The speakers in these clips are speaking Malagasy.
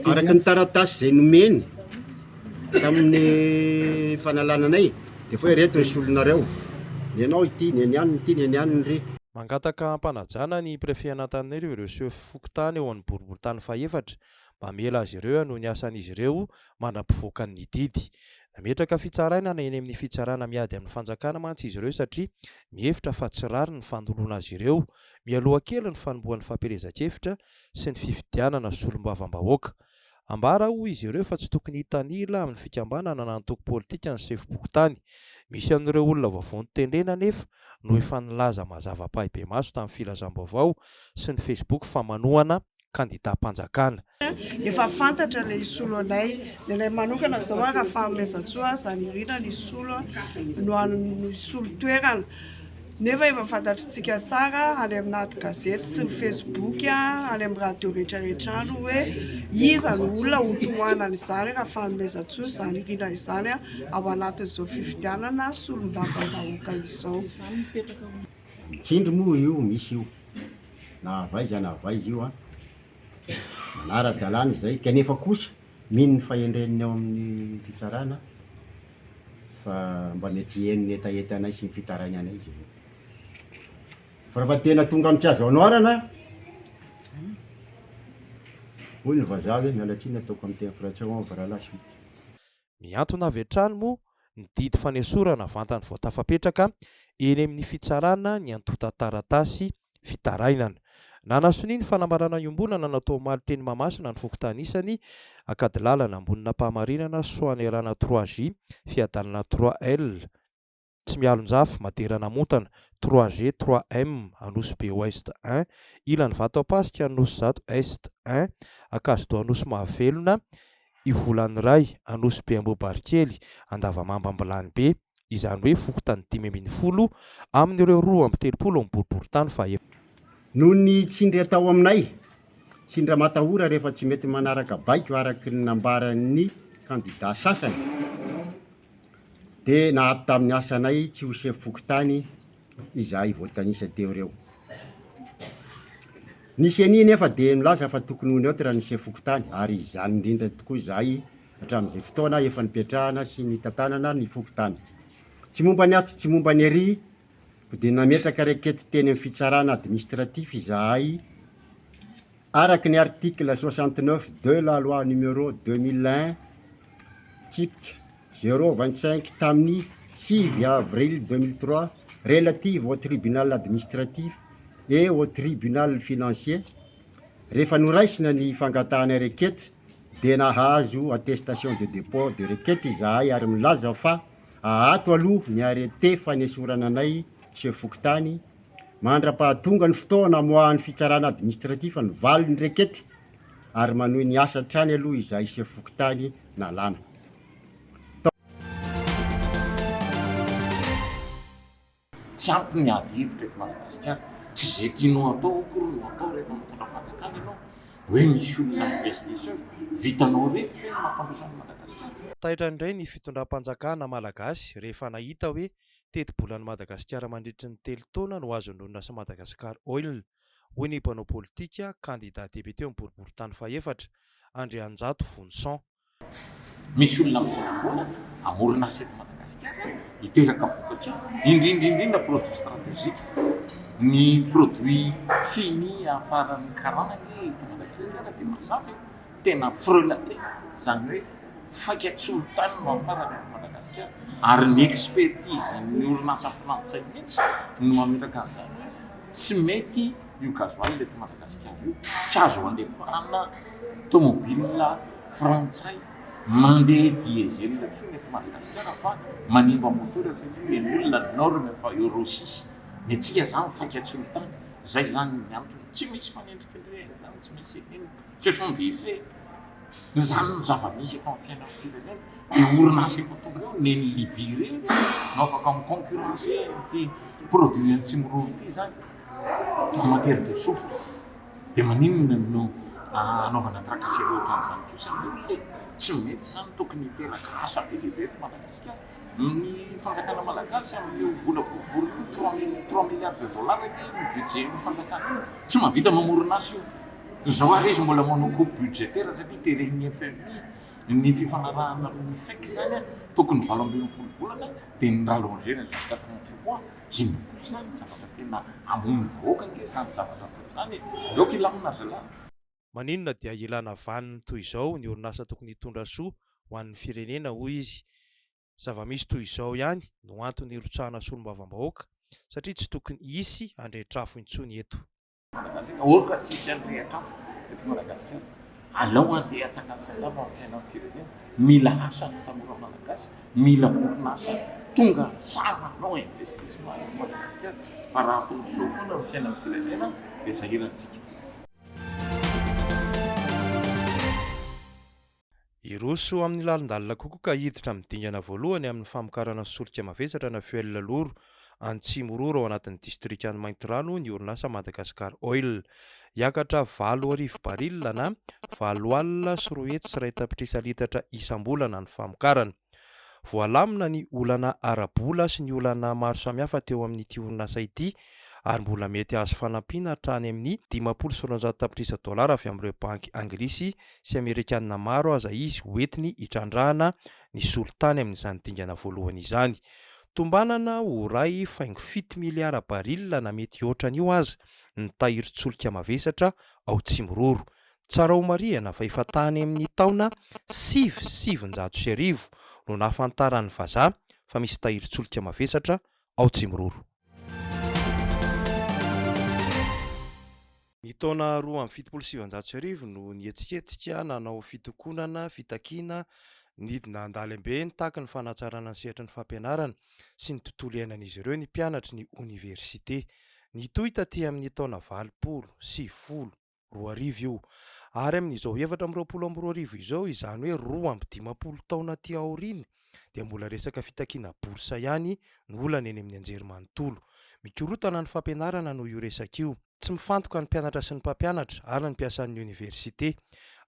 Araka ny taratasy izay nomeny tamin'ny fanalana anay dia foy ireto ny solonareo, ny anao ity, ny an'i anona ity, ny an'i anona ry. Mangataka ampanajana ny Préfet an'Antananarivo ireo sefo fokontany eo amin'ny boriborintany fahefatra mba hamela azy ireo hanohy ny asan'izy ireo mandra-pivoakan'ny didy. Nametraka fitsarainana eny amin'ny fitsarana miady amin'ny fanjakana mantsy izy ireo satria mihevitra fa tsy rariny ny fandoloana azy ireo mialoha kely ny fanombohan'ny fampielezan-kevitra sy ny fifidianana solombavambahoaka. Ambara hoy izy ireo fa tsy tokony hitanila amin'ny fikambanana na antoko politika ny sefom-pokontany. Misy amin'ireo olona vavony tendrena anefa no efa nilaza mazava pahibemaso tamin'ny filazam-baovao sy ny Facebook fa manohana kandidam-panjakana. Efa fantatra ilay hisolo anay, dia ilay manokana izao hoa Rafahamelizantsoa Zanirina no hisolo no hisolo toerana. Nefa efa fantatritsika tsara any amina ady gazety sy ny facebook, any amin'ny radio rehetra rehetra any hoe iza no olona ho tohanana izany Rafahamelizantsoa Zanirina izany ao anatin'izao fifidianana solombavam-bahoaka izao. Tsindry moa io misy io na avaiza na avaiza io an! manara-dalàna izay kanefa kosa mino ny fahendren'ny ao amin'ny fitsarana aho fa mba mety hiheno ny hetahetanay sy ny fitarainanay izy ireo. Fa raha fa tena tonga amin'ny tsy azo anoarana aho, hoy ny vazaha hoe miala tsiny ataoko amin'ny teny frantsay au revoir la suite. Mihantona avy hatrany moa ny didy fanesorana vantany vao tafapetraka eny amin'ny fitsarana ny antontan-taratasy fitarainana. Nanasonia ny fanambarana iombonana natao omaly teny Mahamasina ny fokontany isany Ankadilalana, Ambonin'Ampahamarinana, Soanierana trois J, Fiadanana trois L, Tsimialonjafy, Madera-Namontana, trois G, trois M, Anosibe Ouest un, Ilany Vatoampasika, Anosizato Est un, Ankazodoha Anosimahavelona, Ivolan'iray, Anosibe Ambohibarikely, Andavamamba Ambilanibe, izany hoe fokontany dimy ambin'ny folo amin'ireo roa amby telopolo amin'ny boriborintany faha Noho ny tsindry atao aminay, tsindry amatahora rehefa tsy mety manaraka baiko araka ny nambaran'ny kandidà sasany, dia naato tamin'ny asanay tsy ho sefo fokontany izahay voatanisa teo ireo. Ny ceni nefa dia milaza fa tokony ho neutre ny sefo fokontany ary izany indrindra tokoa izahay hatramin'izay fotoana efa nipetrahana sy nitantanana ny fokontany. Tsy momba ny atsy tsy momba ny ery ko dia nametraka rekety teny amin'ny fitsarana administratif izahay araka ny article soixante neuf de la loi numéro deux mille un tsipika zéro vingt cinq tamin'ny sivy avril deux mille trois relative au tribunal administratif et au tribunal financier rehefa noraisina ny fangatahana rekety dia nahazo attestation de dépôt de requête izahay ary milaza fa aato aloha ny arrete fanesorana anay chef fokontany mandra-pahatonga ny fotoana amoahan'ny fitsarana administratif ny valin'ny requete ary manohy ny asa hatrany aloha izahay chef fokontany nalana Tsy ampy ny ady hevitra eto Madagasikara. Tsy izay tianao atao akory no atao rehefa mitondra fanjakana ianao. Hoe misy olona mi-veste seul. Vitanao reto ve ny mampandroso an'i Madagasikara? Taitra indray ny fitondram-panjakana malagasy rehefa nahita hoe teti-bolan'i Madagasikara mandritry ny telo taona no azon'ny orinasa Madagascar Oil, hoy ny mpanao politika, kandida depiote ho boriborintany fahefatra, Andrianjato Vonison. Misy olona mitondra vola hamorona asa eto Madagasikara, hiteraka vokatra, indrindra indrindra produits stratégiques. Ny produits fini afaran'ny karana anie eto Madagasikara dia mazava e, tena frelaté, izany hoe faika-tsolitany no afarana eto Madagasikara, ary ny expertise-n'ny orinasa frantsay mihitsy no mametraka an'izany hoe tsy mety Io gasoil eto Madagasikara io tsy azo andefarana tomobilina frantsay mandeha diesel intsony eto Madagasikara fa manimba moteur satria eny olona ny norme fa euro six ny antsika zany faika-tsolitany zay zany ny antony tsy misy fanendrikendrehana zany tsy misy inona ce sont des faits zany ny zava-misy eto amin'ny fiainan'ny firenena de orinasa efa tonga eo nen'i Libye reny no afaka mi-concurrencer ity produit antsimo rova ity zany Commentaire de souffle, dia maninona no anaovana tracasserie ohatran'izany kosa anie e! Tsy mety izany, tokony hiteraka asa be dia be eto Madagasikara. Ny fanjakana malagasy amin'io vola voavory io, trois mille, trois milliards de dollars anie ny budget-n'ny fanjakana io, tsy mahavita mamorona asa io. Izao ary izy mbola manao coupe budgétaire satria teren'ny FMI ny fifanarahana amin'ny FEC izany, tokony valo ambin'ny folo volana dia ni-rallonger-na jusqu'à trente mois. Inona kosa izany no zavatra tena hamono vahoaka ange izany zavatra atao izany e! Aleo kilamina zalahy. Maninona dia ilana vaniny toy izao ny orinasa tokony hitondra soa ho an'ny firenena hoy izy. Zava-misy toy izao ihany no antony hirotsahana solombavambahoaka satria tsy tokony hisy handretr'afo intsony eto. Manambadiana aoka fa tsy hisy mirehitra afo eto Madagasikara. Alao handeha hatsangana salama amin'ny fiainan'ny firenena. Mila asa ny tanora Malagasy, mila orinasa tonga sahy manao investissement eto Madagasikara fa raha toy izao foana ny fiainan'ny firenena dia sahirantsika. Hiroso amin'ny lalindalina kokoa ka hiditra amin'ny dingana voalohany amin'ny famokarana solika mavesatra na fuel lourd Antsimororo ao anatin'ny distrikan'i Maintirano ny orinasa Madagascar Oil. Hiakatra valo arivo baril na valo alina sy roa hetsy sy iray tapitrisa litatra isam-bolana ny famokarana. Voalamina ny olana ara-bola sy ny olana maro samihafa teo amin'ity orinasa ity ary mbola mety hahazo fanampiana hatrany amin'ny dimampolo sy roanjato tapitrisa dolara avy amin'ireo banky anglisy sy amerikanina maro aza izy hoentiny hitrandrahana ny solitany amin'izany dingana voalohany izany. Tombanana ho iray faingo fito miliara barila na mety hihoatra an'io aza ny tahirin-tsolika mavesatra ao Tsimiroro, Tsara ho marihana fa efa tany amin'ny taona sivy sy sivinjato sy arivo no nahafantaran'ny vazaha fa misy tahirin-tsolika mavesatra ao Tsimiroro. Ny taona roa amby fitopolo sy sivinjato sy arivo no nihetsiketsika nanao fitokonana, fitakiana, nidina an-dalembe nitaky ny fanatsarana ny sehatry ny fampianarana sy ny tontolo iainan'izy ireo ny mpianatry ny oniversite. Nitohy taty amin'ny taona valopolo sy sivifolo. roa arivo io. Ary amin'izao efatra amby roapolo amby roa arivo izao, izany hoe roa amby dimampolo taona aty aoriana, dia mbola resaka fitakiana bourse ihany no olana eny amin'ny anjerimanontolo. Mikorotana ny fampianarana noho io resaka io. Tsy mifantoka ny mpianatra sy ny mpampianatra ary ny mpiasan'ny oniversite.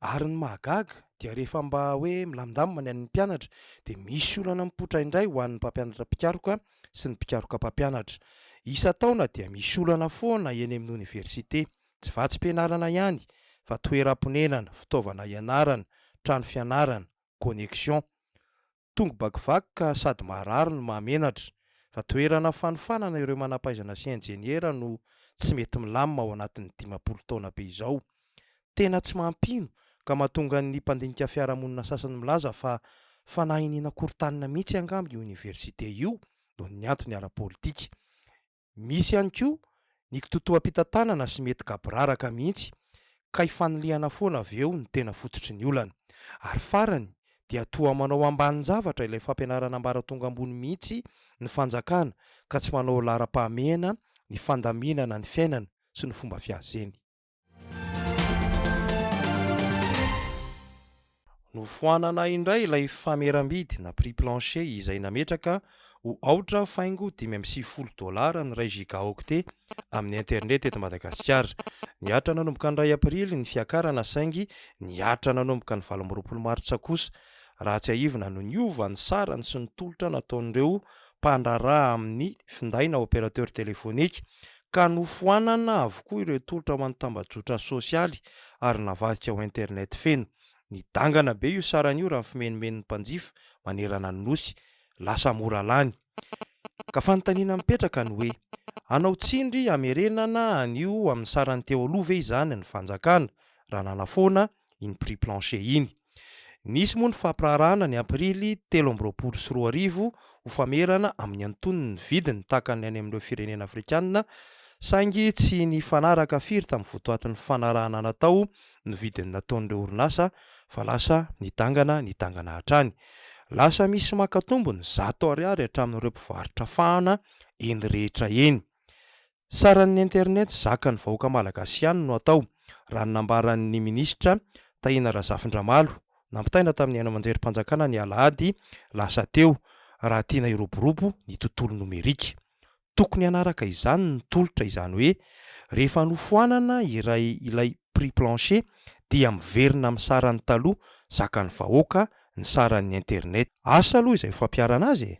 Ary ny mahagaga dia rehefa mba hoe milamindamina ny an'ny mpianatra dia misy olana mipoitra indray ho an'ny mpampianatra mpikaroka sy ny mpikaroka mpampianatra. Isan-taona dia misy olana foana eny amin'ny oniversite. Tsy vatsim-pianarana ihany fa toeram-ponenana, fitaovana ianarana, trano fianarana, connexion. Tongo bakivaky ka sady maharary no mahamenatra. Fa toerana fanofanana ireo manampahaizana sy injeniera no tsy mety milamina ao anatin'ny dimampolo taona be izao. Tena tsy mampino ka mahatonga ny mpandinika fiarahamonina sasany milaza fa fanahy iniana korotanina mihitsy angamba io oniversite io noho ny antony ara-politika. Misy ihany koa ny kitoatoam-pitantanana sy mety gaboraraka mihitsy ka ifanilihana foana avy eo ny tena fototry ny olana. Ary farany dia toa manao ambanin-javatra ilay fampianarana ambaratonga ambony mihitsy ny fanjakana ka tsy manao laharam-pahamehana ny fandaminana ny fiainana sy ny fomba fiazeny. Nofoanana indray ilay fameram-bidy na prix plancher izay nametraka ho aotra faingo dimy amby sivifolo dolara ny iray gigaoctet amin'ny internet eto Madagasikara. Nihatra nanomboka ny iray aprily ny fiakarana saingy nihatra nanomboka ny valo amby roapolo martsa kosa raha tsiahivina no niova ny sarany sy ny tolotra nataon'ireo mpandraharaha amin'ny finday na opérateur téléphonique ka nofoanana avokoa ireo tolotra ho an'ny tambajotra sosialy ary navadika ho internet feno. Nidangana be io sarany io raha ny fimenomenon'ny mpanjifa manerana ny Nosy. Lasa mora lany. Ka fanontaniana mipetraka ny hoe, hanao tsindry hamerenana an'io amin'ny sarany teo aloha ve izany ny fanjakana, raha nanafoana iny prix plancher iny. Nisy moa ny fampiraharahana ny aprily telo amby roapolo sy roa arivo ho famerana amin'ny antonony ny vidiny tahaka ny any amin'ireo firenena afrikanina saingy tsy nifanaraka firy tamin'ny votoatin'ny fanarahana natao ny vidiny nataon'ireo orinasa fa lasa nidangana nidangana hatrany. Lasa misy maka tombony zato ariary hatramin'ireo mpivarotra fahana eny rehetra eny. Saran'ny internet zakan'ny vahoaka malagasy ihany no atao, raha ny nambaran'ny minisitra Tahina Razafindramalo, nampitaina tamin'ny haino aman-jerim-panjakana ny alahady lasa teo, raha tiana hiroborobo ny tontolo nomerika. Tokony hanaraka izany ny tolotra, izany hoe rehefa nofoanana iray ilay prix plancher dia miverina amin'ny sarany taloha zakan'ny vahoaka ny saran'ny internet. Asa aloha izay fampiharana azy e!